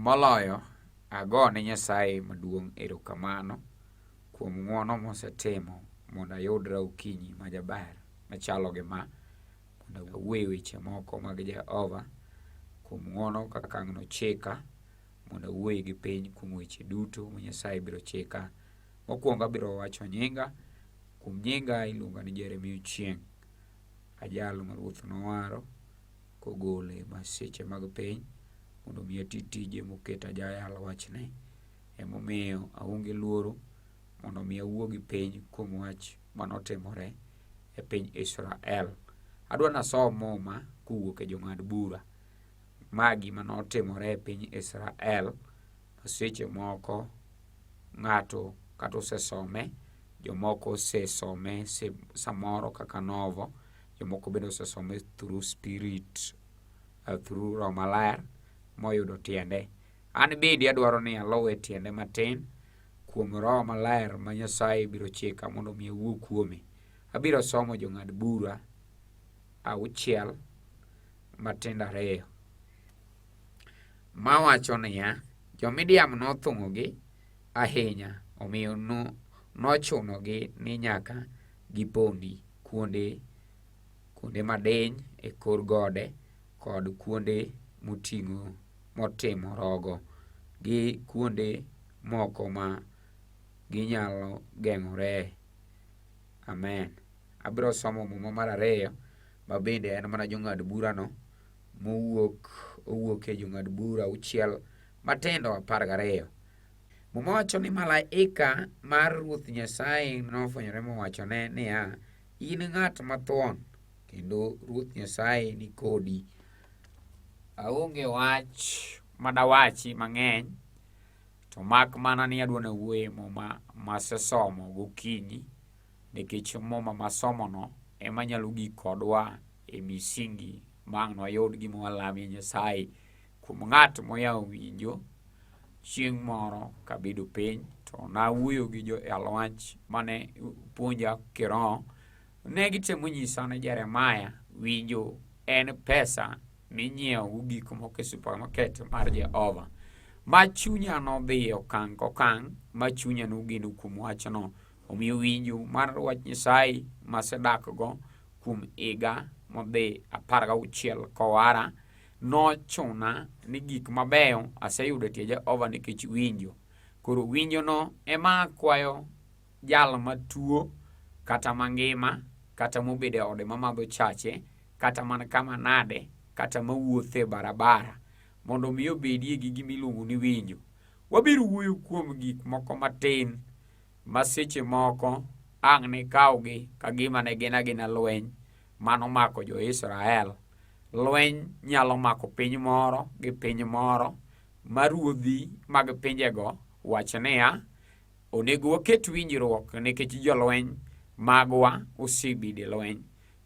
Moloyo, agone Nyasaye maduong' erokamano kuom ng'wono mosetimo mondo ayudra okinyi ma jaber machalo gi ma, mondo awuo e weche moko mag Jehova, kuom ng'wono kaka ang' nochika mondo awuoyi gi piny kuom weche duto ma Nyasaye biro chika. Mokwongo abiro wacho nyinga, kuom nyinga iluonga ni Jeremia Ochieng', ajal ma Ruoth nowaro. kogole e masiche mag piny mondo mi ati tije moket ajayal wachne. Emomiyo aonge luoro mondo mi awuo gi piny kuom wach manotimore e piny Israel. Adwa nasom muma kowuok e jong'ad bura. Ma gima notimore e piny Israel seche moko ng'ato kata osesome jomoko osesome samoro kaka novo Jomoko bende osesome through spirit, uh, through Roho Maler moyudo tiende. An bende adwaro ni alowe tiende matin kuom Roho Maler ma Nyasaye biro chika mondo omi awuo kuome. Abiro somo jong'ad bura auchiel matindo ariyo mawacho niya, Jo-Midiam nothung'ogi ahinya, omiyo nochunogi ni nyaka gipondi kuonde kuonde madiny e kor gode kod kuonde moting'o motimo rogo gi kuonde moko ma ginyalo geng'ore. Amen. Abiro somo muma mar ariyo ma bende en mana jong'ad burano mowuok owuok e jong'ad bura auchiel matindo apar gariyo. Muma wacho ni malaika mar Ruoth Nyasaye nofwenyore mowachone niya, in ng'at mathuon kendo Ruoth Nyasaye ni kodi. Aonge wach madawachi mang'eny to mak mana ni adwa na wuoye muma masesomo gokinyi nikech muma masomono ema nyalo gik kodwa e misingi ma ang' nwayud gima walamie Nyasaye Kuom ng'at moyawo winjo, chieng' moro kabedo piny to nawuoyo gi jo alwach mane puonja kiroho, ne gitemo nyisa ni Jeremaya winjo en pesa minyiewo gik moko e supermarket mar Jehova. Ma chunya nodhi e okang' kokang' ma chunya nogeno kuom wachno. Omiyo winjo mar wach Nyasaye masedakgo kuom higa modhi apar gauchiel kowara Nochuna ni gik mabeyo aseyudo e tie Jehova nikech winjo. Koro winjono ema akwayo jal matuo kata mangima kata mobedo e ode mamadho chache kata man kama nade kata mawuotho e barabara mondo omi obedie gi gima iluongo ni winjo. Wabiro wuoyo kuom gik moko matin ma seche moko ang' nikawgi ka gima ne gin agina lweny mano mako jo-Israel. Lweny nyalo mako piny moro gi piny moro ma ruodhi mag pinjego wach niya, onego waket winjruok nikech jolweny magwa osebedo e lweny.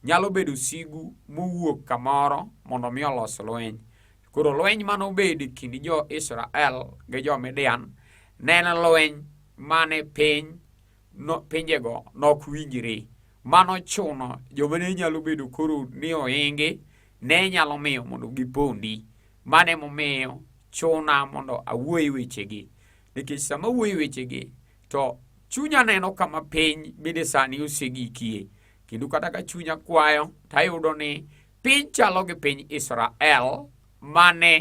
Nyalo bedo sigu mowuok kamoro mondo mi olos lweny. Koro lweny mane obed e kind jo-Israel gi jo-Midian ne en lweny mane piny no, pinjego nok winjre. Mano chuno joma ne nyalo bedo koro ni ohingi ne nyalo miyo mondo gipondi. Mano emomiyo chuna mondo awuoye wechegi. Nikech sama awuoye wechegi to chunya neno kama piny bende sani osegikie. Kendo kata ka chunya kwayo to ayudo ni Piny chalo gi piny Israel mane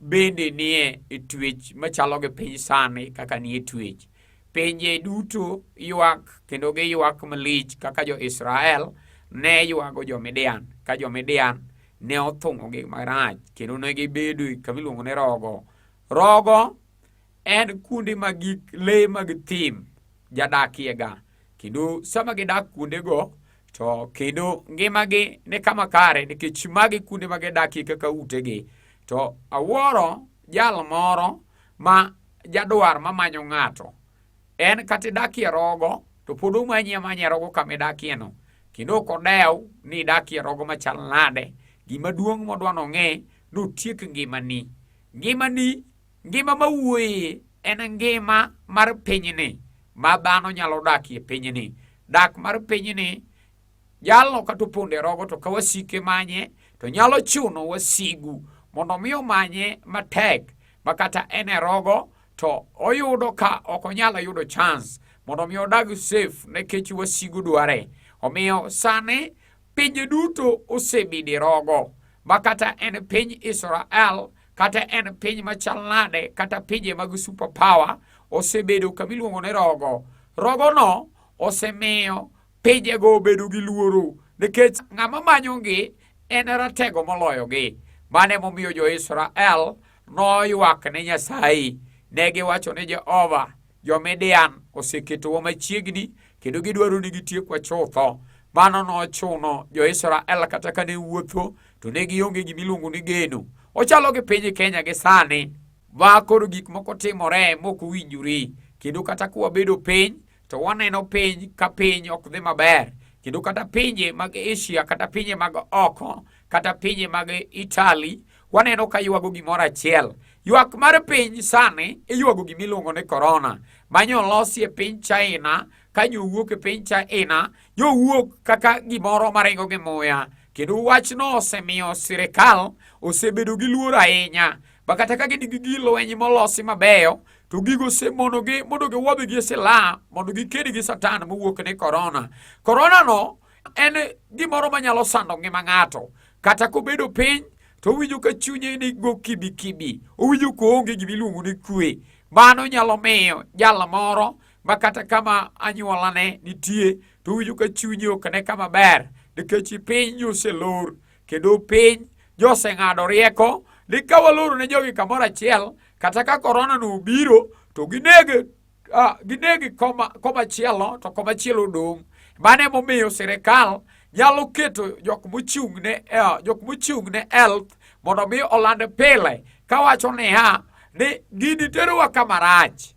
bende nie twech machalo gi piny sani kaka nie twech. Pinje duto ywak kendo giywak malich kaka jo-Israel ne ywago jo-Midian ka jo-Midian ne othung'ogi marach kendo ne gibedo kama iluongo ni rogo. Rogo en kuonde ma gik le mag thim jadakiega kendo sama gidak kuondego to kendo ngimagi ni kama kare nikech magi kuonde ma gidakie kaka utegi to awuoro jal moro ma jadwar mamanyo ng'ato en kata idakie rogo to pod omanyi amanya rogo kama idakieno kendo ok odew ni idakie rogo machal nade gimaduong' modwa nong'e notiek ngimani ngimani Ngima ma wuoye en ngima mar pinyni ma dhano nyalo dakie pinyni. Dak mar pinyni jalno kata opondo e rogo to ka wasike manye to nyalo chuno wasigu mondo mi omanye matek ma kata en e rogo to oyudo ka ok onyal yudo chance mondo mi odag safe nekech wasigu dware. Omiyo sani pinje duto osebidi rogo ma kata en piny Israel kata en piny machal nade kata pinje mag super power osebedo kama iluongo ni rogo rogono osemiyo pinjego obedo gi luoro nikech ng'ama manyogi en ratego moloyogi mano emomiyo jo-israel noywak ne nyasaye ne giwacho ni jehova jo-midian oseketowa machiegni kendo gidwaro ni gitiekwa chutho mano nochuno jo-israel kata ka ne wuotho to ne gionge gima iluongo ni geno. Ochalo gi piny Kenya gi sani ma koro gik moko timore mok owinjore kendo kata ka wabedo piny to waneno piny ka piny ok dhi maber kendo kata pinje mag Asia kata pinje mag oko kata pinje mag Italy waneno ka ywago gimoro achiel. Ywak mar piny sani iywago gima iluongo ni korona ma nyolosi e piny China ka jowuok e piny China jowuok kaka gimoro maringo gi muya kendo wachno osemiyo sirikal osebedo gi luor ahinya ma kata ka gin gi gir lweny molosi mabeyo to gigo osemonogi mondo giwuodh gi sila mondo giked gi satan mowuok ni korona koronano en gimoro manyalo sando ngima ng'ato kata kobedo piny to owinjo ka chunye ni go kibikibi owinjo koonge gimiluongo ni kwe mano nyalo miyo jal moro ma kata kama anyuolane nitie to owinjo ka chunye ok ne kama ber nikech piny oselor kendo piny joseng'ado rieko ni ka waloro ne jogi kamoro achiel kata ka korona no obiro to ginege uh, ginege koma, koma chielo to koma chielo dong' mano emomiyo sirikal nyalo keto jok mochung' ne uh, jok mochung' ne health mondo mi oland pile kawacho niya ni gini terowa kama rach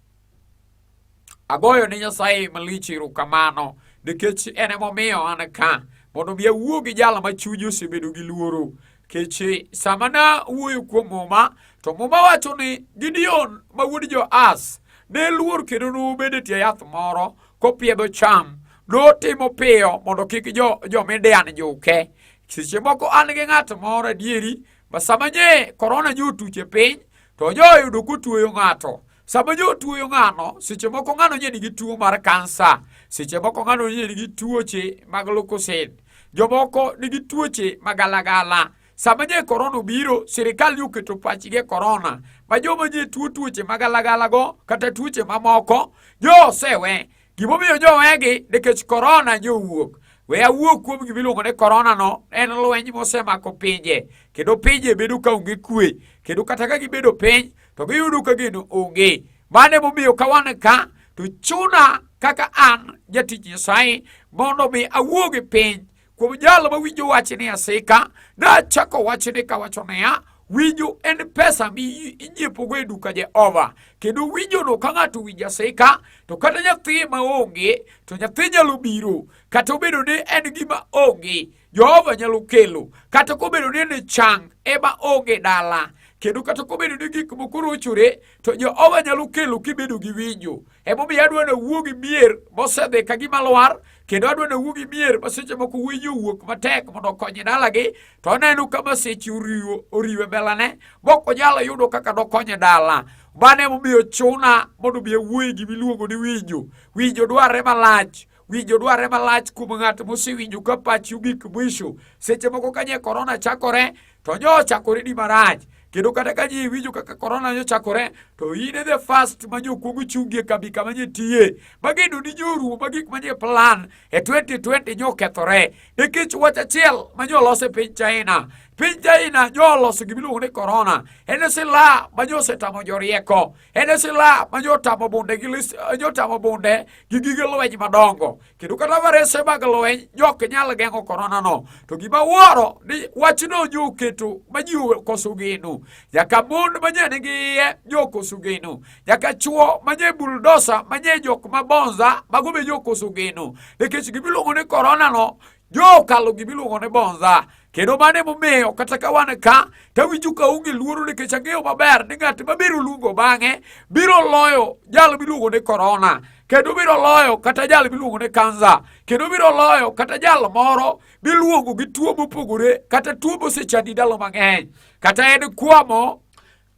Agoyo ne Nyasaye malich erokamano nikech en emomiyo an ka mondo mi awuo gi jal ma chunye osebedo gi luoro kech eh, sama na wuoyo kuom muma to muma wacho ni Gideon ma wuod Joas ne luor kendo nobedo e tie yath moro kopiedho cham notimo piyo mondo kik jo, jo Midian juke seche moko an gi ng'at moro adieri ma sama nye korona nyo otuche piny to joyudo kotueyo ng'ato Sama jo tuoyo ng'ano, seche moko ng'ano nye nigi tuo mar kansa, seche moko ng'ano nye nigi tuoche mag lukusin, jomoko nigi tuoche magalagala. Sama nye korona obiro, sirikal nye oketo pachgi e korona, ma joma nye tuo tuoche magalagalago kata tuoche mamoko, jo osewe. Gimomiyo jo owegi nikech korona nye owuok. We awuo kuom gima iluongo ni koronano, en lweny mosemako pinje, kendo pinje bedo ka onge kwe, kendo kata ka gibedo piny, to giyudo ka geno onge. Mano emomiyo ka wan ka to chuna kaka an jatich Nyasaye mondo mi awuog e piny kuom jalo ma winjo wach ni asika nachako wachni kawacho niya winjo en pesa mi inyiepogo e duka Jehova kendo winjono ka ng'ato winjo asika to kata nyathi ma onge to nyathi nyalo biro kata obedo ni en gima onge Jehova nyalo kelo kata kobedo ni ne chang ema onge dala kendo kata kobedo ni gik moko rochore to Jehova nyalo kelo kibedo gi winjo. Emomiyo adwa nawuo gi mier mosedhi ka gima lwar kendo adwa nawuo gi mier ma seche moko winjo wuok matek mondo okonye dalagi to oneno ka masiche oriwo oriwe belane mok onyalo yudo kaka dokonye dala. Mano emomiyo chuna mondo obi awuoye gimiluongo ni winjo. Winjo dwarre malach Winjo dwarre malach kuom ng'at mosewinjo ka pachi ogik mwisho. Seche moko ka nye korona chakore, to nyo ochakore ni marach. Kendo kata ka ji winjo kaka korona nyo chakore, to in e the first ma jokuogo chungie kambi kama nye tiye. Mageno ni nyoruo ma gik manye plan e 2020 nyo kethore. Nikech wach achiel ma nyo olose piny China. Piny China nyo oloso gimiluongo ni korona. En e sila ma nyo osetamo jorieko. En e silaha ma jotamo bunde gi eh, jotamo bunde gi gige lweny madongo. Kendo kata varese mag lweny jok nyal geng'o korona no. To gima wuoro ni wachno joketo ma ji okoso geno. Nyaka mon ma nye nigi iye jokoso geno. Nyaka chwo ma nye buldosa ma nye jok ma bonza mago be jokoso geno. Nikech gimiluongo ni korona no Jokalo gima iluongo ni bonza kendo mano emomiyo kata ka wan ka tawinjo ka onge luoro nikech ang'eyo maber ni ng'at mabiro luongo bang'e biro loyo jal miluongo ni korona kendo biro loyo kata jal miluongo ni kansa kendo biro loyo kata jal moro miluongo gi tuo mopogore kata tuo mosechandi ndalo mang'eny kata en kwamo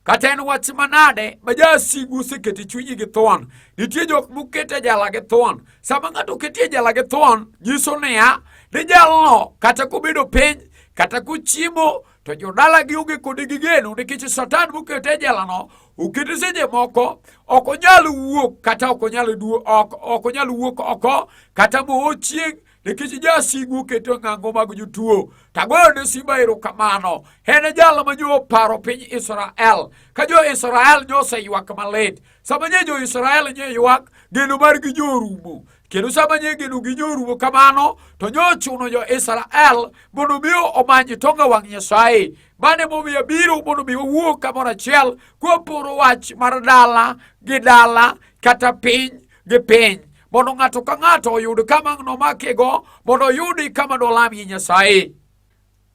Kata en wach manade ma jasigu osekete chunyi gi thuon. Nitie jok mokete jala gi thuon. Sama ng'ato oketie jala gi thuon, nyiso niya, ni jalno kata kobedo piny, kata kochiemo, to jodala gi onge kode gi geno nikech satan mokete e jelano okete seche moko ok onyal wuok kata ok onyal wuok oko kata mochieng' nikech jasigu oketo e ng'ango mag jotuo. Tagoyo ne simba erokamano. En e jal ma nyo oparo piny Israel. Ka jo-Israel nyo oseywak malit. Sama nye jo-Israel nye ywak, geno margi nyo orumo. Kendo sama nye geno gi nyo orumo kamano, to nyo ochuno jo-Israel mondo mi omany tonga wang' Nyasaye. Mano emomiyo abiro mondo mi wawuo kamoro achiel kwaporo wach mar dala gi dala kata piny gi piny mondo ng'ato ka ng'ato oyud kama nomakigo mondo oyudi kama dolamie Nyasaye.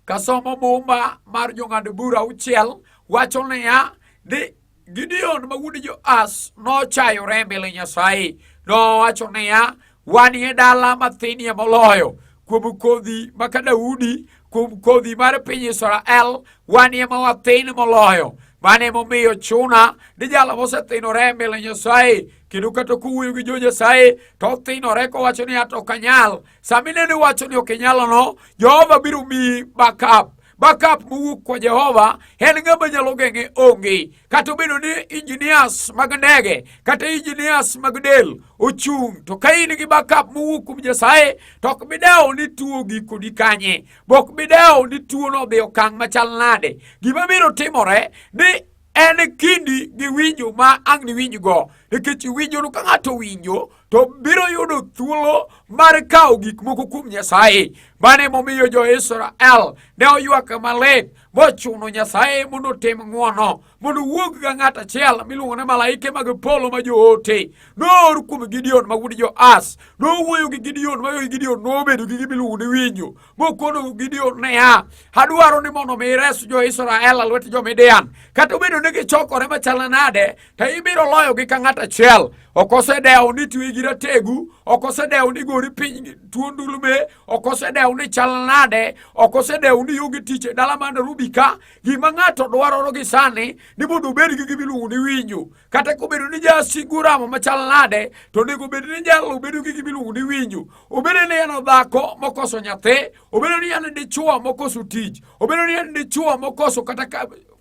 Kasomo Muma mar jong'ad bura auchiel wacho niya ni Gideon ma wuod Joas nochayore e mbele Nyasaye nowacho niya wanie dala mathinie moloyo kuom kodhi maka Daudi kuom kodhi mar piny Israel wanie ma wathin moloyo mane momiyo chuna ni jalo mosethinore e mbele Nyasaye kendo kata kowuoyo gi jo-Nyasaye to othinore kowacho ni ato ok anyal. Sama ineno iwacho ni ok inyalono, Jehova biro miyi backup backup mowuok kwa Jehova en ng'ama nyalo geng'e onge. Kata obedo ni engineers mag ndege kata engineers mag del ochung' to ka in gi backup mowuok kuom Nyasaye to ok bidewo ni tuo gikoni kanye, bok bidewo ni tuono odhi okang' machal nade. Gima biro timore ni en kindi gi winjo ma ang' niwinjgo nikech iwinjono ka ng'ato winjo to biro yudo thuolo mar kawo gik moko kuom nyasaye mano emomiyo jo-israel ne oywak malit mochuno nyasaye mondo otim ng'wono mondo wuog ga ng'at achiel miluongo ni malaike mag polo ma joote noor kuom gideon ma wuod joas nowuoyo gi gideon ma gideon nobedo gi gimiluongo ni winjo mokono Gideon niya, adwaro ni mondo mi ires jo-Israel alwet jo-Midian. Kata obedo ni gichokore machal nade, to ibiro loyogi ka ng'at achiel. Ok osedewo ni twe gi rategu, ok osedewo ni gori piny tuo ndulme, ok osedewo ni chal nade, ok osedewo ni yugi tich e dala man Rubika. Gima ng'ato dwaroro gi sani ni mondo obed gi gimiluongo ni winjo. kata kobedo ni jasigu ramo machal nade to onego bed ni jalo bedo gi gima iluongo ni winjo obedo ni en dhako mokoso nyathi obedo ni en dichuo mokoso tich obedo ni en dichuo mokoso kata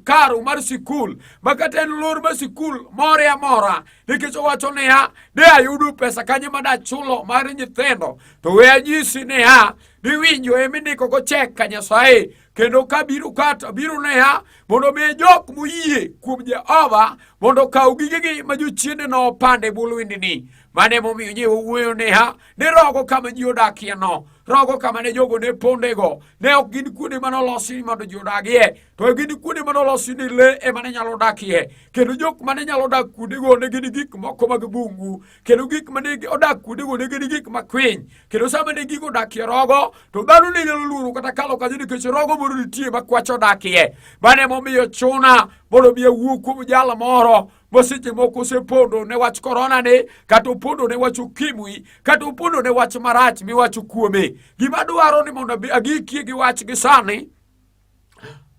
karo mar sikul ma kata en lor mar sikul more amora nikech owacho niya de ayudo pesa kanye ma dachulo mar nyithindo to we anyisi niya ni winjo emindikogo chek ka nyasaye kendo ka biro kata biro neha mondo mi jok moyie kuom Jehova mondo okaw gigegi ma jochiende no opande bwo lwendini. Mano emomiyo ji wuoyo neha ne rogo kama ji odakie no rogo kama ne jogo ne pondego ne ok gin kuonde mane olosi mondo ji odagie to gin kuonde mane olosi ni le ema ne nyalo dakie kendo jok mane nyalo dak kuondego ne gin gik moko mag bungu kendo gik ma ne odak kuondego ne gin gik makwiny kendo sama ne gigo odakie rogo to dhano ne nyalo luoro kata kalo kanyo nikech rogo moro nitie ma kwach odakie mano emomiyo chuna mondo mi awuo kuom jal moro ma seche moko osepondo ne wach korona ni kata opondo ne wach ukimwi kata opondo ne wach marach miwacho kuome gima dwaro ni mondo agikie gi wach gi sani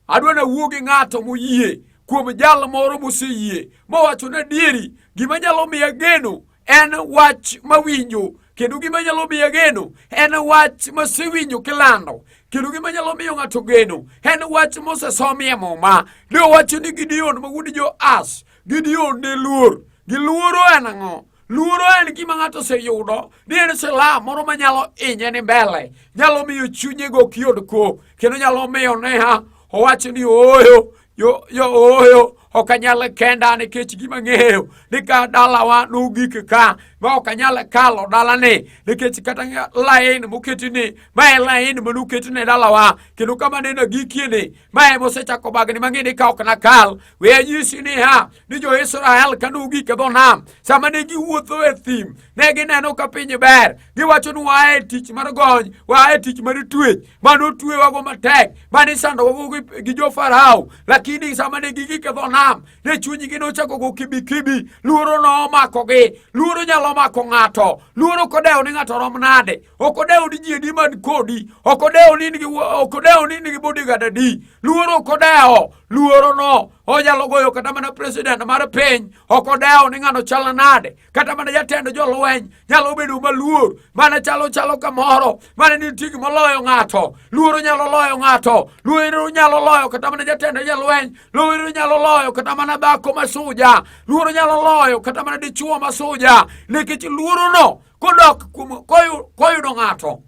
Adwa nawuo gi ng'ato moyie kuom jal moro moseyie mowacho ni adieri gima nyalo miya geno en wach mawinjo kendo gima nyalo miya geno en wach masewinjo kilando kendo gima nyalo miyo ng'ato geno en wach mosesomi e muma ne owacho ni gideon ma wuod joas Gideon ne luor. Giluoro en ang'o? Luoro en gima ng'ato oseyudo ni en silaha moro ma nyalo inye ni mbele, nyalo miyo chunye go ok yud kop, kendo nyalo miyo neha owacho ni ooyo yo yo ooyo ok anyal kenda nikech gima ng'eyo ni ka dalawa nogik ka ma ok anyal kalo dalani nikech kata lain moketini ma en lain manoketne dalawa kendo kama nene agikieni mae mosechako bagni mang'ini ka ok nakal we anyisi niya ni jo-israel ka nogik e dho nam sama ne giwuotho e thim ne gineno ka piny ber giwacho ni waa e tich mar gony waa e tich mar twech mane otwewago matek mane isandowago gi jo-farao lakini sama ne gigik e dho nam ne chunygi nochako go kibikibi luoro nomakogi luoro nyalo mako ng'ato luoro kodewo ni ng'ato rom nade ok odewo ni ji adi man kodi ok odewo ni nigi ok odewo ni nigi bodigad adi luoro ok odewo luorono onyalo goyo kata mana president mar piny ok odewo ni ng'ano chal nade kata mana jatend jolweny nyalo bedo maluor mana chalo chalo kamoro mana nitie gima loyo ng'ato luoro nyalo loyo ng'ato luoro nyalo loyo kata mana jatend jolweny luoro nyalo loyo kata mana dhako masuja luoro nyalo loyo kata mana dichuo masuja nikech luorono kodok koyudo ng'ato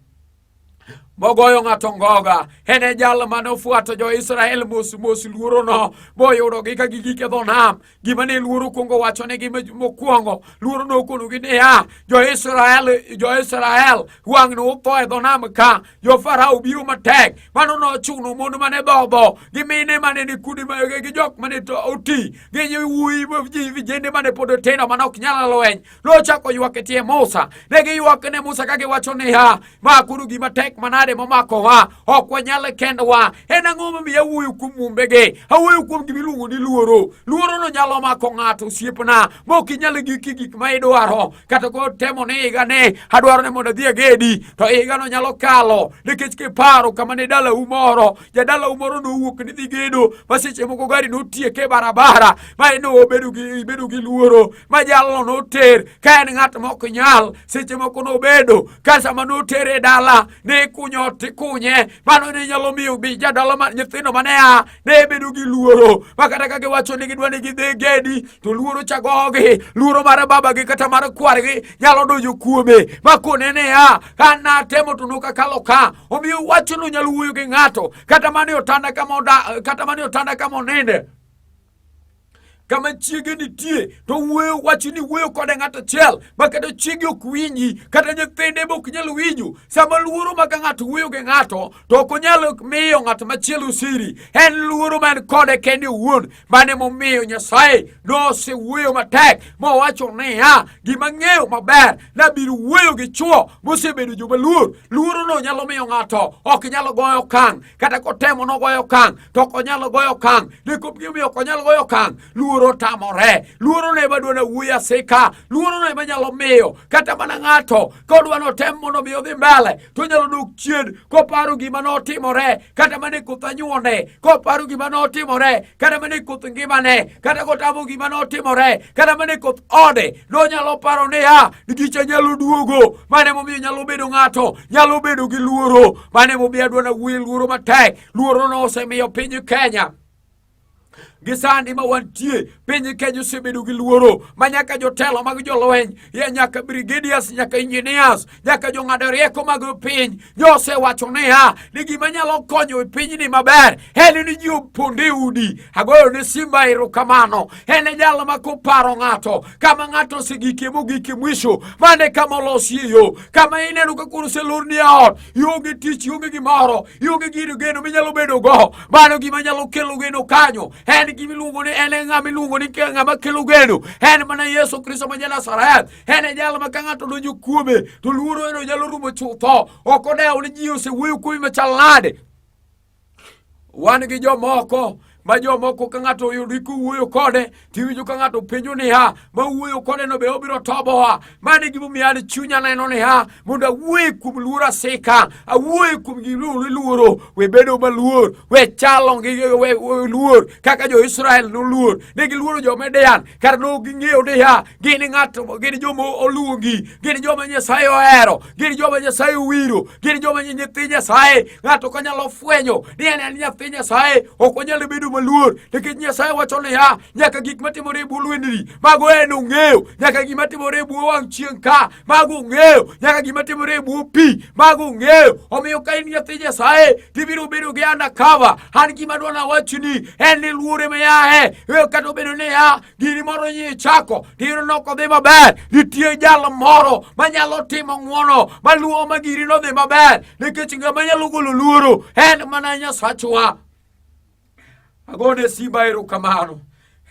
mogoyo ng'ato ngoga en e jal mane ofuato jo-israel mos mos luorono moyudogi ka gigik e dho nam gima ne luoro kwongo wachonegi mokwongo luoro nokonogi niya jo-israel jo-israel wang'ne utho e dho nam ka jo-farao biro matek mano nochuno mon mane dhodho gi mine mane ni kudi gi jok mane oti gi wuoyi vijende mane pod otindo mane ok nyal lweny Nochako ywak e tie Musa. Ne giywak ne Musa ka giwacho niya, makuru gima tek manade momakowa, ok wanyal kendwa. En ang'o momiyo awuoyo kuom mumbegi? Awuoyo kuom gima iluongo ni luoro. Luorono nyalo mako ng'ato osiepna, mok inyal giki gik ma idwaro. Kata kotemo ni higani adwaro ni mondo adhi agedi, to higano nyalo kalo nikech kiparo kama ne dalau moro jadalau moro nowuok ni dhi gedo ma seche moko gari notieke e barabara ma en obedo gi ibedo gi luoro ma jalno noter ka en ng'at ma ok nyal seche moko nobedo ka sama notere e dala ne ikunyo ot ikunye mano ne nyalo miyo bi jadala ma nyithindo mane a ne bedo gi luoro ma kata ka giwacho ni gidwa ni gidhi gedi to luoro chagogi luoro mar babagi kata mar kwargi nyalo donjo kuome ma kone ne a ka natemo to nokakalo ka Omiyo wachno nyalo wuoyo gi ng'ato kata mane otanda kama oda, kata mane otanda kama oninde kama chiege nitie to wuoyo wacho ni wuoyo kode ng'ato achiel ma kata chiege ok winji kata nyithinde be ok nyal winjo sama luoro ma ka ng'ato wuoyo gi ng'ato to ok onyal miyo ng'at machielo siri en luoro ma en kode kende owuon Mane momiyo Nyasaye nosewuoyo matek mowacho niya, gima ng'eyo maber nabiro wuoyo gi chwo mosebedo joma luor. Luorono nyalo miyo ng'ato ok nyalo goyo kang', kata kotemo nogoyo kang' to ok onyalo goyo kang'. Gimomiyo ok onyalo goyo kang', luoro tamore. Luorono ema dwa nawuoyo asika, luorono ema nyalo miyo kata mana ng'ato kodwa notem mondo mi odhi mbele to onyalo dok chien koparo gima notimore kata mane koth anyuone koparo gima notimore kata mane koth ngimane kata kotamo gima notimore kata mane koth ode nonyalo paro niya gicha nyalo duogo mane momiyo nyalo bedo ng'ato nyalo bedo gi luoro mane momiyo adwana wuoye luoro matek luoro nosemiyo piny kenya gi sandi ma wantie piny Kenya osebedo gi luoro ma nyaka jotelo mag jolweny ye nyaka brigadiers nyaka engineers nyaka jong'ado rieko mag piny josewacho niya ni gima nyalo konyo e pinyni maber en ni ji oponde udi agoyo ne simba erokamano en e jal ma koparo ng'ato kama ng'ato osegikie mogikie mwisho mane kama olosie yo kama ineno ka koro oselorni e ot ionge tich, ionge gimoro, ionge gino geno minyalo bedo go. Mano gima nyalo kelo geno kanyo. En gima iluongo ni en e ng'ama iluongo ni ng'ama kelo geno. En mana Yesu Kristo ma Janazareth. En e jal ma ka ng'ato donjo kuome to luoro eno nyalo rumo chutho. Ok odewo ni ji osewuoyo kuome machal nade. Wan gi jomoko ma jomoko ka ng'ato oyudi kuwuoyo kode tiwinjo ka ng'ato penjo niya ma wuoyo kode no be obiro tobowa mano e gimomiyo an chunya neno niya mondo awuoye kuom luoro asika awuoye kuom gimoro iluoro we bedo maluor we chalo gi luor kaka jo-israel noluor ne giluoro jo-midian kar luw gi ng'eyo niya gin ng'ato gin joma oluongi gin joma nyasaye ohero gin joma nyasaye owiro gin joma nyithi nyasaye ng'ato ka nyalo fwenyo ni en en nyathi nyasaye ok onyalo bedo maluor nikech nyasaye wacho niya nyaka gik matimore e bwo lwendni mago en ong'eyo nyaka gik matimore e bwo wang' chieng' ka Mago ong'eyo nyaka gima timore e bwo pi. Mago ong'eyo. Omiyo ka in nyathi Nyasaye, tibiro bedo gi undercover. An gima dwa nawachni en ni luore miyae. E kata obedo ni ya gini moro nyi chako, tiyudo ni ok odhi maber. Nitie jal moro manyalo timo ng'wono maluwo ma giri nodhi maber. Nikech ng'ama nyalo golo luoro en mana Nyasachwa. Agone Simba erokamano.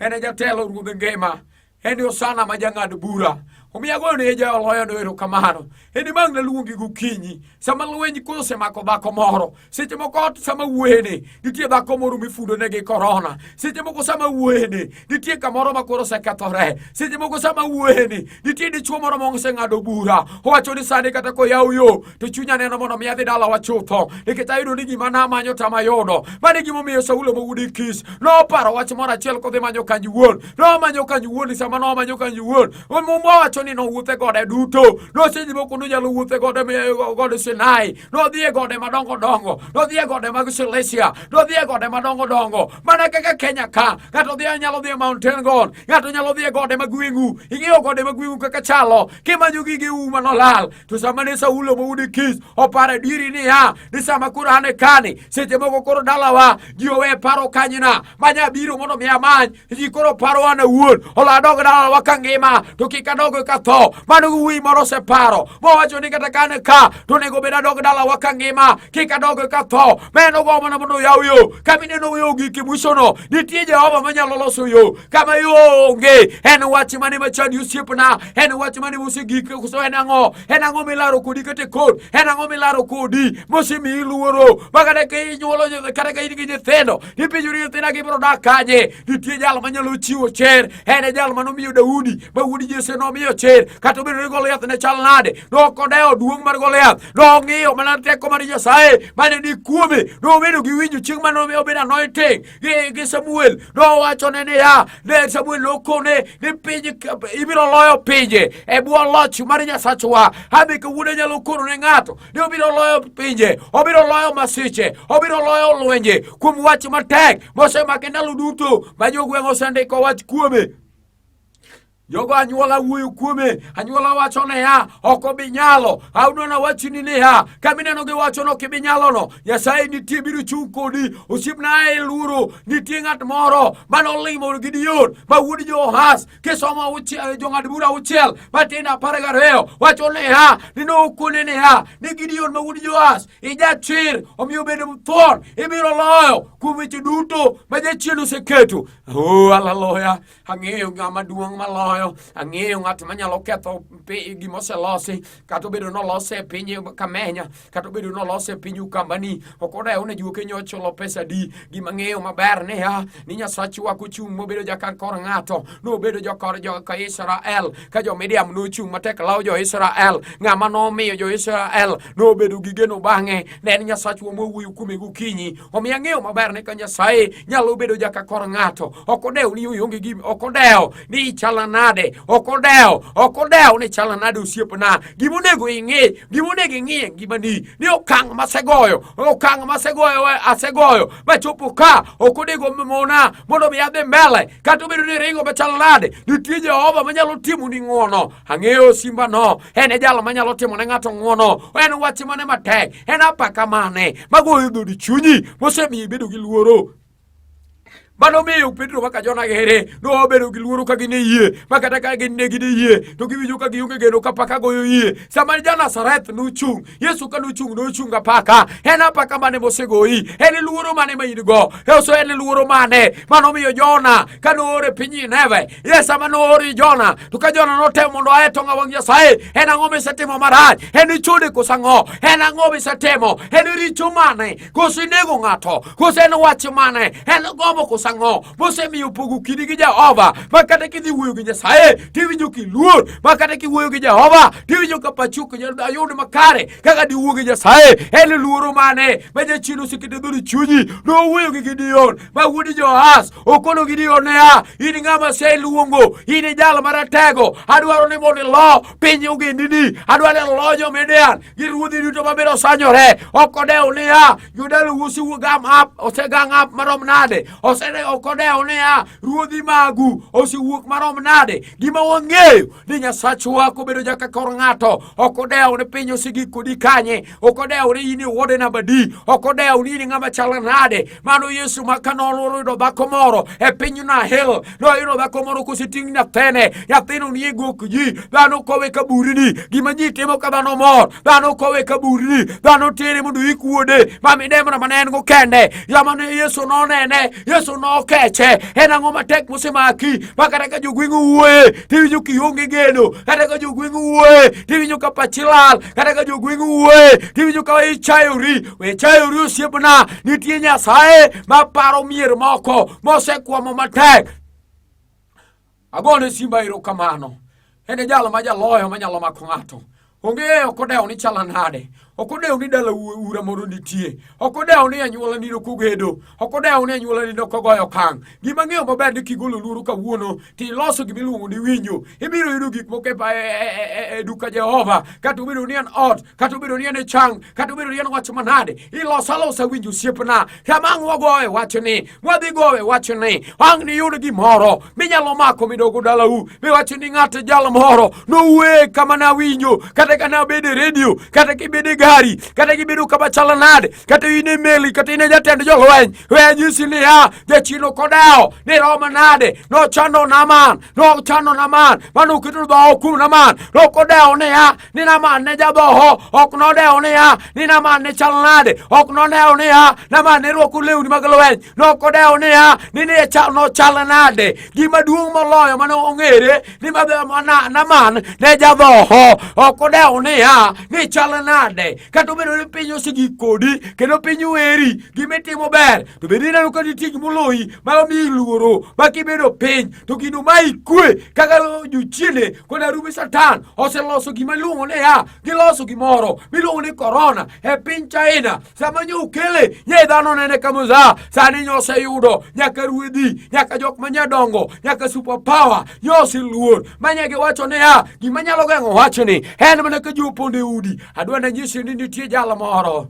En e jatelo ruodh ngima. En e osana ma jang'ad bura. Omiyo agoyo ne jaoloyo no erokamano. En e mang' naluongi gokinyi. Sama lweny koro osemako dhako moro. Seche moko ot sama wuoyene, nitie dhako moro mifudone gi korona. Seche moko sama wuoyene, nitie kamoro ma koro osekethore. Seche moko sama wuoyene, nitie dichwo moro moseng'ado bura. Owacho ni sani kata koyaw yo, to chunya neno mondo mi adhi dalawa chutho nikech ayudo ni gima namanyo to amayudo mano e gimomiyo saulo mowudi kis noparo wach moro achiel kodhi manyo kanji wuon nomanyo kanji wuon i sama nomanyo kanji wuon mowacho ni nowuothe gode duto nosedhi moko nonyalo wuothe gode e, gode sinai nodhi e gode madongo dongo nodhi e gode mag silesia nodhi e gode madongo dongo mana kaka kenya ka ng'ato dhi nyalo dhi e mountain god ng'ato nyalo dhi e gode mag wingu ing'eyo gode mag wingu kaka chalo kimanyo gige uma nolal to sama ne saulo moyudi kis oparo adieri niya ni sama koro an e kani seche moko koro dalawa ji owe paro kanyna manya biro mondo mi amany ji koro paro an awuon olo adog dalawa ka ngima to kik adog ka tho mano gi wuyi moro oseparo mowacho ni kata ka an e ka to onego bed adog dalawa ka ngima kik adog ka tho ma en ogo mana mondo oyaw yo kama ineno yo giki mwisono nitie jehova manyalo loso yo kama yo onge en wach mane machandi osiepna En wach mane mosegik koso en ang'o? En ang'o milaro kodi kata kod? En ang'o milaro kodi mosemiyi luoro? Ma kata ka inyuolo kata ka in gi nyithindo, ipenjori nyithinda gibiro dak kanye? Nitie jal manyalo chiwo cher. En e jal manomiyo Daudi ma wuod Jesse nomiyo cher. Kata obedo ni Goliath ne chal nade, nok odewo duong' mar Goliath. Nong'iyo mana teko mar Nyasaye mane ni kuome. Nobedo gi winjo chieng' mane obedo anointing. gi, gi Samuel nowachone niya ne Samuel nokone ni piny ibiro loyo pinje e bwo loch mar Nyasachwa ami kawuono inyalo kono ne ng'ato ni obiro loyo pinje obiro loyo masiche obiro loyo lwenje kuom wach matek mosemake ndalo duto ma jogweng' osendiko wach kuome jogo anyuola wuoyo kuome anyuola wacho niya ok obi nyalo aunona wachini niya kamineno giwacho ni ok ibi nyalono nyasaye nitie biro chung' kodi osiepna ae luoro nitie ng'at moro mane olimo gideon ma wuod johas kisomo jong'ad bura auchiel matin apar gariyo wacho niya ni nokone niya ni gideon ma wuod johas ijachir omiyo bedo mthwon ibiro loyo kuom weche duto ma jachien oseketo o oh, haleluya ang'eyo ng'ama duong' maloyo ang'eyo ng'at manyalo ketho gima oselosi kata obedo nolose e piny kamenya kata obedo nolose e piny ukambani ok odewo ne juoke nyocho lo pesa di gima ng'eyo maber niya ni nyasachwa kuchung' mobedo jakankor ng'ato nobedo jokor jo-israel ka jo-midiam nochung' matek lawo jo-israel ng'ama nomiyo jo-israel nobedo gi geno bang'e ne en nyasachwa mowuoyo kuome gokinyi Omiyo ang'eyo maber ni ka Nyasaye nyalo bedo jaka kor ng'ato, ok odew ni ionge gi ok odew ni ichala nade, ok odew, ok odew ni chala nade osiepna. Gima onego ing'e, gima onego ing'e ngimani ni okang' masegoyo, okang' masegoyo asegoyo machopo ka ok onego mona mondo mi adhi mbele kata obedo ni ringo machal nade, nitie Jehova manyalo timo ni ng'wono Ang'eyo simbano, en e jal manyalo timo ne ng'ato ng'wono, en wach mane matek, en apaka mane magoyo dhodi chunyi mosemiyo ibedo gi luoro mano miyo Petro kaka Jona gere nobedo gi luoro ka gin e yie ma kata ka gin ne gin e yie to giwinjo ka gionge geno ka paka goyo yie sama ja Nazareth nochung' Yesu ka nochung' nochung' apaka en apaka mane mosegoyi en luoro mane ma in go eso en luoro mane mano miyo Jona ka noore piny Nineve Yesu ema noori Jona to ka Jona notemo mondo aye tong' awang' Nyasaye en ang'o misetimo marach en ichode koso ang'o en ang'o misetimo en richo mane koso inego ng'ato koso en wach mane en gombo koso ang'o mosemiyo pogo kidi gi Jehova ma kata kidhi wuoyo gi Nyasaye tiwinjo kiluor ma kata kiwuoyo gi Jehova tiwinjo ka pachi ok nyal ayud makare kaka diwuo gi Nyasaye en luoro mane ma jachien oseketo e dhodi chunyi nowuoyo gi Gideon Daudi Johaz okono gi diyo niya, in ng'ama aseluongo, in e jal maratego, adwaro ni mondo ilo piny ogendini, adwaro ni ilo jo-Midian gi ruodhi duto mabiro sanyore. Ok odewo niya, Juda usiwuog up, osegang up marom nade? Ok odewo niya, ruodhi magu osewuok marom nade? Gima wang'eyo ni Nyasachwa kobedo jaka kor ng'ato, ok odewo ni piny osegik kodi kanye, ok odewo ni in iwuode namba di, ok odewo ni in ng'ama chalo nade, Mano Yesu ma ka noyudo dhako moro e piny Nahel, noyudo dhako moro koseting' nyathene, nyathino nie gok ji, dhano kowe ka burini, gima ji timo ka dhano mor, dhano kowe ka burini, dhano tere mondo ik wuode, ma midemna ma ne en go kende, jama ne Yesu nonene, Yesu nokeche, en ang'o matek mosemaki, ma kata ka jogweng' owuoye, tiwinjo kionge geno, kata ka jogweng' owuoye, tiwinjo ka pachi lal, kata ka jogweng' owuoye, tiwinjo ka ichayori, We chayori osiepna, nitie Nyasaye ma paro mier moko mosekwamo matek. Agone simba erokamano. En e jalo ma jaloyo manyalo mako ng'ato. Onge ok odewo ni chala nade. Ok odewo ni dala ura moro nitie. Ok odewo ni anyuola nino kugedo. ok odewo ni anyuolani ne ok ogoyo okang' gima ng'eyo maber ni kigolo luoro kawuono to iloso gima iluongo ni winjo ibiro yudo gik moko e, e, e, e duka jehova kata obedo ni en ot kata obedo ni en e chang kata obedo ni en wach manade iloso alosa winjo osiepna kama ang' wagowe wachni mwadhi gowe wachni ang' niyud gimoro minyalo mako midogo dalau miwacho ni ng'at jal moro nowe kama nawinjo kata ka nabedo e redio kata kibedo e gari kata kibedo kama chalo nade kata in e meli kata in e jatend jolweny wenyisi niya jachino kodewo ni romo nade nochando naman nochando naman mane oketo dhoho kuom naman nokodewo niya ni naman ne jadhoho ok nodewo niya ni naman ne chal nade ok nodewo niya naman ne rwako lewni mag lweny nokodewo niya ni ne nochal nade gima duong' moloyo mane ong'ere ni babea mwana naman ne jadhoho ok odewo niya ni chal nade kata obedo ni piny osegik kodi kendo piny weri gimitimo ber to bende ineno ka nitie gimoloyi ma omiyi luoro ma kibedo piny to gino ma ikwe kaka jochiende kod arume satan oseloso gima iluongo niya giloso gimoro miluongo ni korona e piny china sama nyukele nye dhano nene kamuza sani nyose yudo nyaka ruedhi nyaka jok manya dongo nyaka super power nyose luor manya gi wacho ne ya gima nyalo geng'o wachni en mana ka jopondo e udi adwa na nyisi ni nitie jal moro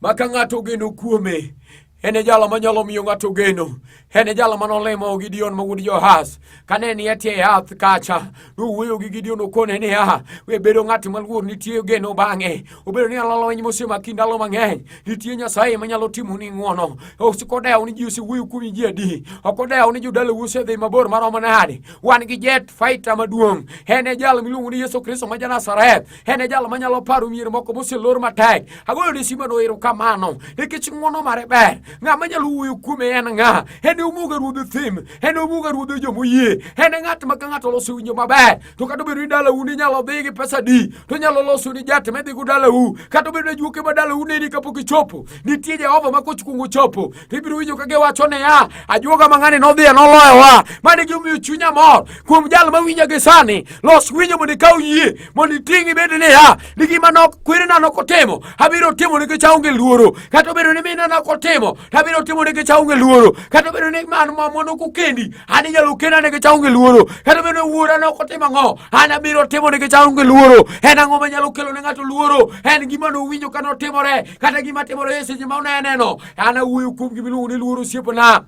maka ng'ato geno kuome En e jalo manyalo miyo ng'ato geno. En e jalo manolemo Gideon ma wuod Johaz. Kane ni e tie yath kacha, nowuoyo gi Gideon okone niya, we bedo ng'at maluor nitie geno bang'e. Obedo ni alalweny mosemaki ndalo mang'eny, nitie Nyasaye manyalo timo ni ng'wono. Ok odewo ni ji osewuoyo kuomi ji adi. Ok odewo ni jodala osedhi mabor maromo nade. Wan gi jet fighter maduong'. En e jal miluongo ni Yesu Kristo ma ja Nazareth. en e jal manyalo paro mier moko moselor matek agoyo ne simano erokamano nikech ng'wono mare ber ng'a manyalo wuoyo kuome en ng'a en e omuga ruodho thim en e omuga ruodho jomoyie en e ng'at ma ka ng'ato oloso winjo maber to kata obedo ni dalau ni nyalo dhi gi pesa di to nyalo loso ni jat medhigo dalau kata obedo ni juoke ma dalau neni kapok ichopo nitie jehova ma kochkwongo chopo ibiro winjo ka giwacho niya ajuoga mang'ani nodhiye noloyowa mane gimiyo chunya mor kuom jal ma winja gi sani los winjo mondo ikaw yie mondo iting' ibed niya ni gima kwerena nokotimo abiro timo nikech aonge luoro kata obedo ni mina nokotimo to abiro timo nikech aonge luoro kata obedo ni man mamwa nokokendi an inyalo kenda nikech aonge luoro kata obedo ni wuora nokotimo ang'o an abiro timo nikech aonge luoro en ang'o manyalo kelo ne ng'ato luoro en gima nowinjo ka notimore kata gima timore e seche ma uneneno An awuoyo kuom gima iluongo ni luoro osiepna.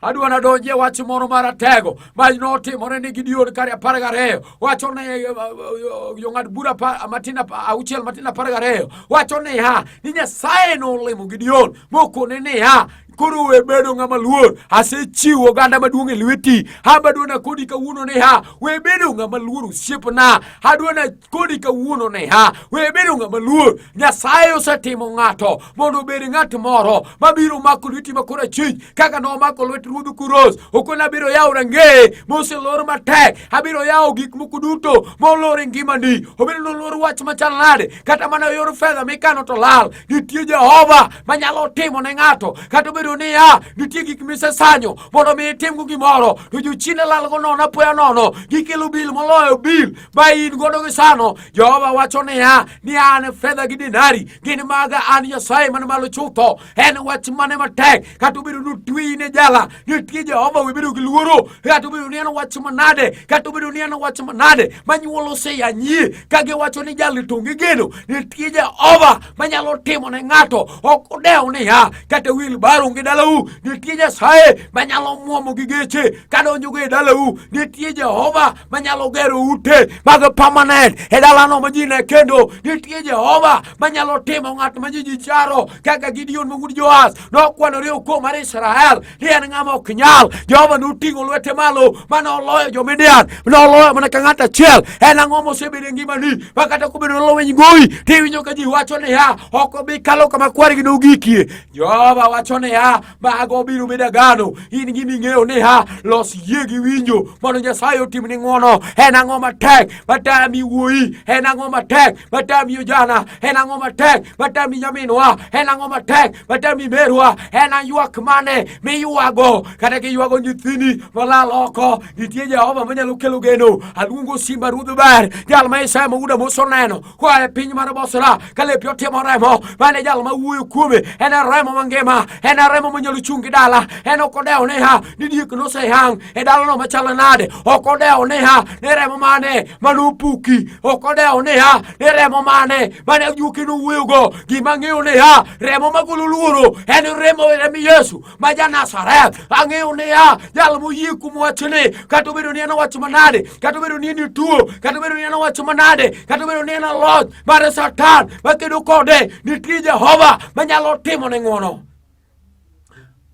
Adwa nadonji e wach moro maratego ma notimore ni Gideon kare apar gariyo wacho ne eh, eh, eh, jong'ad bura matin auchiel matin apar gariyo wacho niya ni Nyasaye nolimo Gideon mokone niya koro we bedo ng'ama luor asechiwo oganda maduong' e lweti abadona kodi kawuono ni ha we bedo ng'ama luor osiepna adwana kodi kawuono ne ha we bedo ng'ama luor nyasaye osetimo ng'ato mondo obed ng'at moro mabiro mako lweti makoro achich kaka nomako lwet ruodh kuros okoni abiro yawo rangeye moselor matek abiro yawo gik moko duto molor e ngimani obedo nolor wach machal nade kata mana e yor fedha mikano to lal nitie jehova manyalo timo ne ng'ato kata obedo niya nitie gik misesanyo mondo mi itimgo gimoro to jochine lalgo nono apoya nono gikelo bil moloyo bil ma in godo gi sano jehova wacho niya ni an fedha gi dinari gin maga an nyasaye man malo chutho en wach mane matek kata obedo ni otweyi ne jala nitie jehova webedo gi luoro kata obedo ni en wach manade kata obedo ni en wach manade manyuolo oseyanyie ka giwacho ni jali to gigeno nitie jehova manyalo timo ne ng'ato ok odew niya kata wil baru gi dalau nitie nyasaye manyalo mwomo gi geche kadonjogo e dalau nitie jehova manyalo gero ute mag permanent e dalano ma ji ne kendo nitie jehova manyalo timo ng'at ma ji ji charo kaka gideon ma wuod joas nokwanore okwo mar israel ni en ng'ama ok nyal jehova noting'o lwete malo mane oloyo jomidian noloyo mana ka ng'at achiel en ang'o mosebedo e ngimani ma kata kobedo noloweny goyi tiwinjo ka ji wacho niya ok obi kalo kama kwargi nogikie jehova wacho niya mago biro bedo agano in gini ing'eyo niya los yie gi winjo mondo nyasaye otimni ng'wono en ang'o matek matami wuoyi en ang'o matek matami ojana en ang'o matek matem ni nyaminwa en ang'o matek matem ni merwa en aywak mane miywago kata kiywago nyithini molal oko nitie jehova manyalo kelo geno aluongo simba ruodh ber jal ma isaya mauda moseneno koa e piny mar bosra ka lepi otimo remo mane jal ma wuoyo kuome en e remo mangima en e remo manyalo chung' gi dala en ok odewo niha ni diek noseyang' e dalano machalo nade ok odewo niha ni remo mane manopuki ok odewo niha ni remo mane mane ojuki nuwuyogo gima ang'eyo niya remo magolo luoro en remo remi yesu ma ja nazareth ang'eyo niya jal moyie kuom wachni kata obedo ni en wach manade kata obedo ni en ituo kata obedo ni en wach manade kata obedo ni en loch mar satan makedo kode nitie jehova manyalo timo ne ng'wono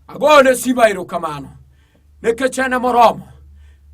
agoyone simba erokamano nikech en moromo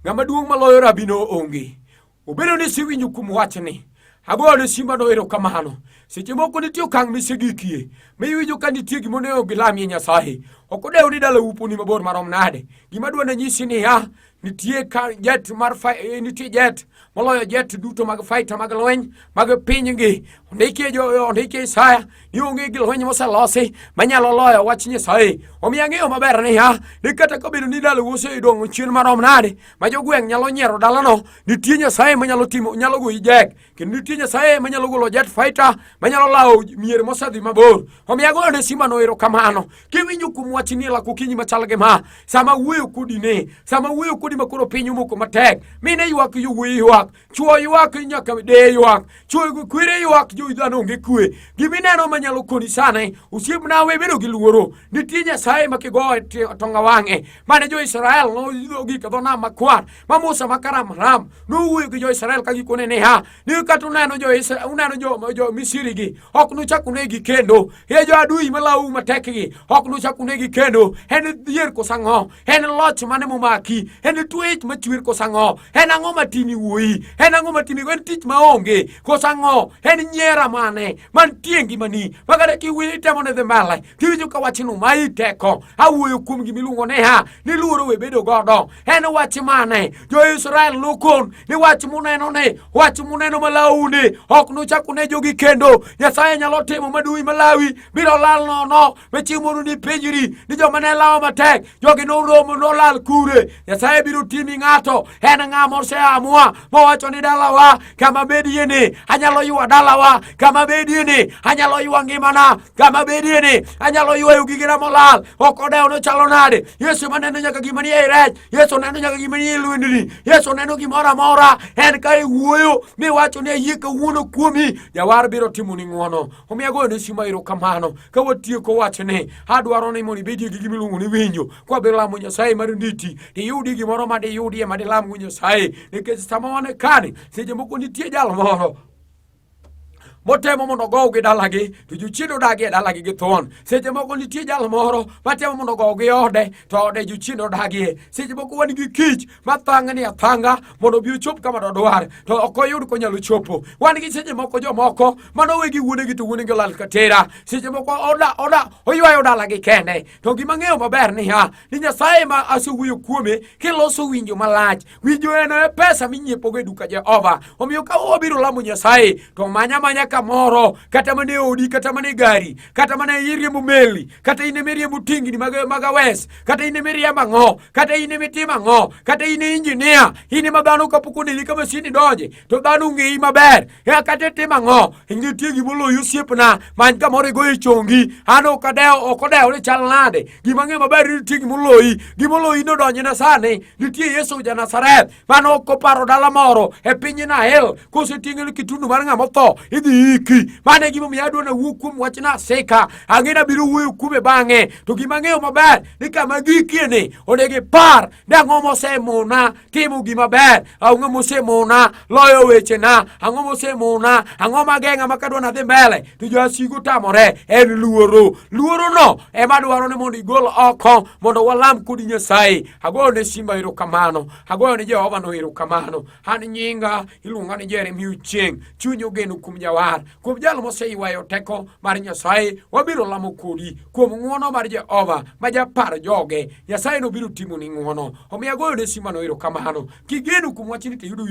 ng'ama duong' maloyo rabino onge obedo ni siwinjo kuom wachni agoyone simbano erokamano seche moko nitie okang' misegikie ma iwinjo ka nitie gima onego gilamie nyasaye ok odewo ni dala uponi mabor marom nade gima dwane nyisi niya nitie ka jet mar eh, nitie jet moloyo jet duto mag faita mag lweny mag pinygi ondikie ondikie isaya ni onge gi lweny moselosi manyalo loyo wach nyasaye omiyo ang'eyo maber niya ni kata kobedo ni dala uoseidong'o chien marom nade ma jogweng' nyalo nyiero dalano nitie nyasaye manyalo timo nyalo goyi jek kendo nitie nyasaye manyalo golo jet fighter manyalo lawo mier mosedhi mabor omiyo agoyo ne simano ero kamano kiwinjo kuom wach ni lako kinyi machal gi ma sama wuoyo kodi ne sama wuoyo kodi makoro piny omoko matek mine ywak yowuoyi ywak Chwo ywak nyaka de ywak. Chwo gi kwere ywak jo dhano onge kwe. Gima ineno ma nyalo koni sane, osiepna we bedo gi luoro. Nitie Nyasaye ma kigoye tonga wang'e. Mane jo Israel noidho gik dho nam makwar. Ma Musa ma karam ram. Nowuoyo gi jo Israel ka gikone niya, ni kata uneno jo Israel, uneno jo, jo Misiri gi, ok nuchak unegi kendo. E jo adui malawu matek gi, ok nuchak unegi kendo. En dhier kosang'o. en loch mane momaki en twech machwer koso ang'o en ang'o matimi wuoyi en ang'o matimi en tich maonge koso ang'o en nyiera mane mantie ngimani makata kiwuoyo itemo ne dhi mbele tiwinjo ka wachno ma iteko awuoyo kuom gimiluongo ni ha ni luoro we bedo godo en wach mane jo-israel nokon ni wach muneno ni wach muneno malawu ni ok nuchak unejogi kendo nyasaye nyalo timo maduwi malawi biro lal nono To chieng' mondo nipenjri ni joma ne lawo matek jogi noromo nolal kure. Nyasaye biro timi ng'ato en ng'a moseamua mowacho ni dalawa kama bedie ni anyalo ywa dalawa kama bedie ni anyalo ywa ngimana kama bedie ni anyalo ywayo gigena molal ok odewo nochalo nade yesu maneno nyaka gima ni ei rech yesu neno nyaka gima ni ei lwendni yesu neno gimoro amora en ka iwuoyo miwacho ni ayie kawuono kuomi jawar biro timoni ng'wono omiyo agoyo ne simo erokamano ka watieko wachni adwaro ni mondo ibedie gi gima iluongo ni winjo kwabiro lamo nyasaye mar nditi iyudi gimoro ma diyudie ma dilamgo nyasaye nikech sama wan e kani seche moko nitie jal moro motemo mondo ogow gi dalagi to jochiende odagi e dalagi gi thon seche moko nitie jal moro matemo mondo ogow gi ode to ode jochiende odagie seche moko wan gi kich ma thang' ni athanga mondo obi ochop kama dodwar to ok oyud konyalo chopo wan gi seche moko jomoko mano wegi wuonegi to wuonegi olal katera seche moko oda oda oywayo dalagi kende to gima ng'eyo maber niya ni nyasaye ma asewuoyo kuome kiloso winjo malach winjo en e pesa minyiepogo e duka jehova omiyo ka wabiro lamo nyasaye to manya manya kamoro kata mana e odi kata mana e gari kata mana e iriembo meli kata in ema iriembo tingni mag awes kata in ema iriembo ang'o kata in ema itimo ang'o kata in injinia in ema dhano kapok oneni ka masin idonje to dhano ong'eyi maber ea kata itimo ang'o nitie gima oloyi osiepna many kamoro igoyo e chongi an ok adewo ok odewo ni chal nade gima ng'e maber ni nitie gima oloyi gima oloyi nodonjna sani nitie yesu ja nazareth mane ok oparo dala moro e piny Nael koseting'e ni kitundu mar ng'ama otho idhi iki. Mano e gimomiyo adwa nawuo kuom wach Naseka, ang'e nabiro wuoyo kuome bang'e. To gima ang'eyo maber ni kama gikie ni onego ipar ni ang'o mosemona timo gima ber, ang'o mosemona loyo wechena, ang'o mosemona, ang'o mageng'a ma kadwa nadhi mbele to jasigu tamore en luoro. Luorono ema dwaro ni mondo igol oko mondo walam kodi Nyasaye. agoyo ne simba erokamano agoyo ne jehova no erokamano an nyinga iluonga ni jeremia ochieng chuny ogeno kuom jawar kuom jal moseywayo teko mar nyasaye wabiro lamo kodi kuom ng'wono mar jehova ma japar joge nyasaye nobiro timo ni ng'wono omiyo agoyo ne simba no erokamano kigeno kuom wachni tiyudo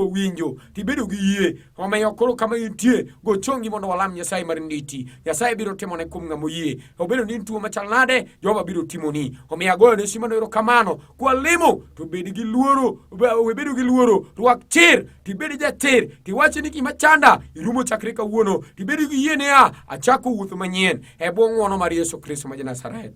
winjo tibedo gi yie omiyo koro kama intie go chongi mondo walam nyasaye mar nditi nyasaye biro timone kuom ng'ama oyie obedo ni tuo machal nade jehova biro timoni omiyo agoyo ne simano erokamano kwalimo to bed gi luoro webedo gi luoro rwak chir tibed jachir tiwache ni gima chanda irumo chakre kawuono tibed gi yie niya achako wuoth manyien e bwo ng'wono mar yesu kristo ma janazareth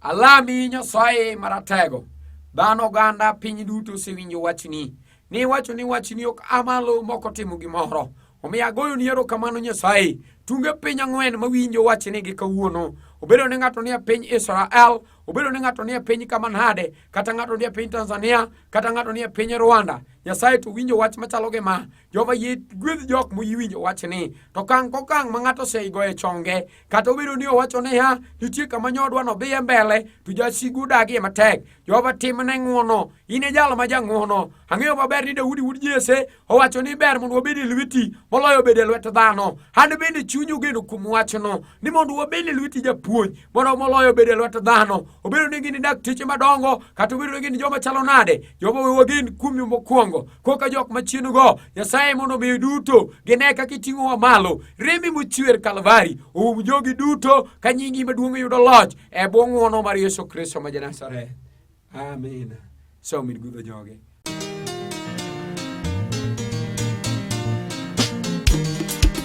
Alami Nyasaye Maratego, dhano oganda piny duto osewinjo wachni, ni iwacho ni wachni ok amalo moko timo gimoro. Omiyo agoyo ni erokamano Nyasaye, tunge piny ang'wen mawinjo wachni gi kawuono obedo ni ng'ato nie piny Israel, obedo ni ng'ato nie piny kama nade, kata ng'ato nie piny Tanzania, kata ng'ato nie piny Rwanda, Nyasaye to winjo wach machalo gi ma Jehova yie gwedh jok moyiwinjo wachni to kang' kokang' ma ng'ato oseigo e chonge kata obedo ni owacho niya nitie kama nyodwa no dhiye mbele to jasigu odagie matek Jehova timne ng'wono in e jal ma jang'wono ang'eyo maber ni Daudi wuod Jese owacho ni ber mondo wabed e lweti moloyo bedo e lwet dhano an bende chuny ogeno kuom wachno ni mondo wabed e lweti japuonj mondo moloyo bedo e lwet dhano obedo ni gin dakteche madongo kata obedo ni gin joma chalo nade Jehova we wagen kuomi mokwongo koka jok machienugo nyasaye mondo omiyo duto gine kaka iting'owa malo remi mochwer kalvari oum jogi duto ka nyingi maduong' yudo loch e bwo ng'wono mar yesu kristo ma janasareth amen somid gudho joge